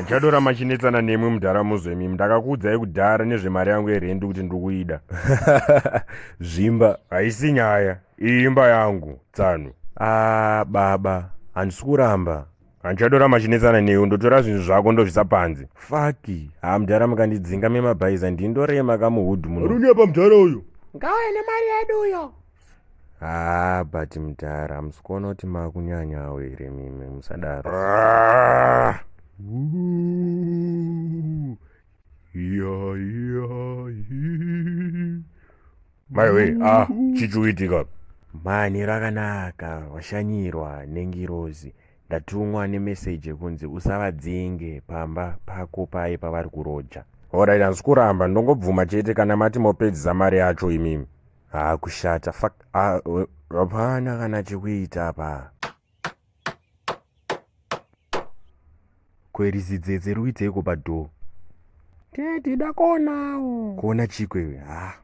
handichatona machinetsana nemwe mudhara muzvemi ndakakuudzai kudhara nezvemari yangu yerendi kuti ndiri kuida zvimba haisi nyaya iyi imba yangu tsano a ah, baba handisi kuramba handichatora machinetsana newe ndotora zvinhu zvako ndozvisa panze faki haa mudhara mukandidzinga memabhaiza ndindorema kamuhudhu muno runyepa mudhara uyo ngauye nemari yedu uyo haa but mdhara hamusi kuona kuti makunyanyawo here mimi musadaro maiwe ah chichuitika mhani rakanaka washanyirwa nengirozi ndatumwa nemeseji yekunzi usavadzinge pamba pako paye pavari kuroja horaiti handisi kuramba ndongobvuma chete kana mati mopedzisa mari yacho imimi haa kushata fak hapana kana chekuita apa kwerizidzedze ruiteiko padhoo tedi dakonawo kuona chiko iwe haa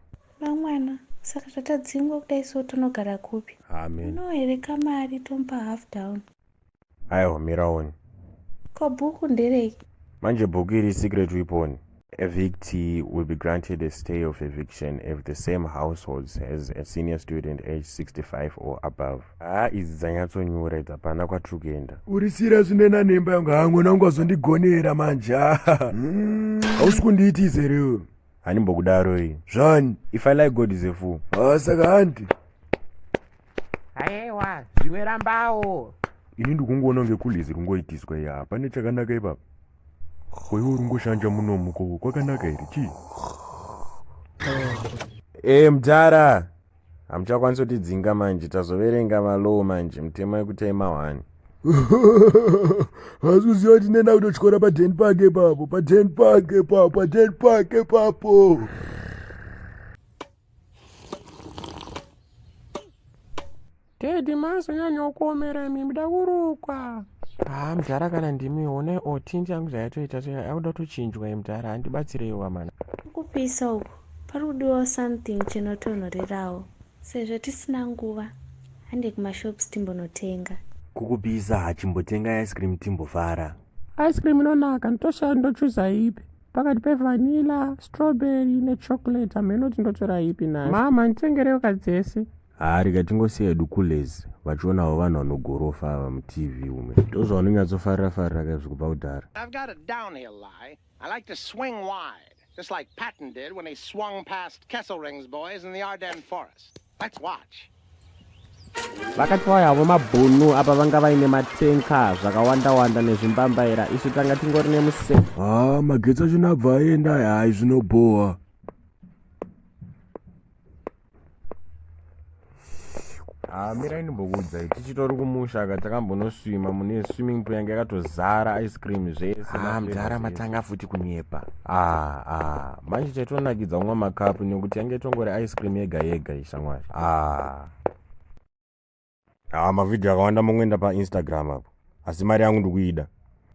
vamwana saka zvatadzingwa kudai so tonogara kupi amen no here kamari tomupa half down aiwa miraoni ko bhuku nderei manje bhuku iri secret weapon evictee will be granted a stay of eviction if the same households has a senior student age 65 or above haa idzi dzanyatsonyura idzi hapana kwatiri kuenda uri sira zvinena nemba yangu haa mwana wangu azondigonera manje hausi kundiitizerewo handimbokudaroi zvani if i like god is a fool ah, saka hanti aewa zvimwe rambawo ini ndikungoona kunge kulizi rungoitiswa iya hapane chakanaka ipapa koiwo rungoshanja munomuko kwakanaka here chii e eh, mdhara Hamuchakwanisi kutidzinga manje tazoverenga malaw manje mutemo yekutai mahwani. Hasi kuziva kuti nena kutotyora paden park ipapo paden park ipapo paden park ipapo. Teddy mazonyanyawo kuomera imi muda kurukwa. Haa mdhara kana ndimi one or tint yangu zvayatoita akuda kutochinjwa iyi mdhara handibatsireyi wamana. Kupisa uku pari kudiwawo something chinotonhorerawo. Sezvo tisina nguva hande kumashops timbonotenga. Kukupisa hachimbotenga ice cream timbofara. Ice cream inonaka ndotoshaya ndochuza ipi pakati pevanilla strawberry nechocolate hameno kuti ndotora ipi nai mama nditengerewo kadzese Haa rega tingosiya hedu kulezi vachionawo vanhu vanogorofa ava mutv ume ndozvavanonyatsofarira farira kaizvi kubva kudhara Just like Patton did when he swung past Kesselring's boys in the Ardennes forest. Let's watch. vakati vauya havo mabhunu apa vanga vaine matenka zvakawandawanda nezvimbambaira isu tanga tingori nemusefu haa ah, magetsi achona abva aenda hayi zvinobhowa Ah, mirai ndimbokuudzai tichitori kumusha ka takambonoswima mune swimming pool yange yakatozara ice cream zvese ah, mdhara matanga futi kunyepa ah, ah. manje chaitonakidza kumwa makapu nekuti yange itongori ice cream yega yega ishamwari ah. ah, mavhidhiyo akawanda mongoenda painstagram apo asi mari yangu ndikuida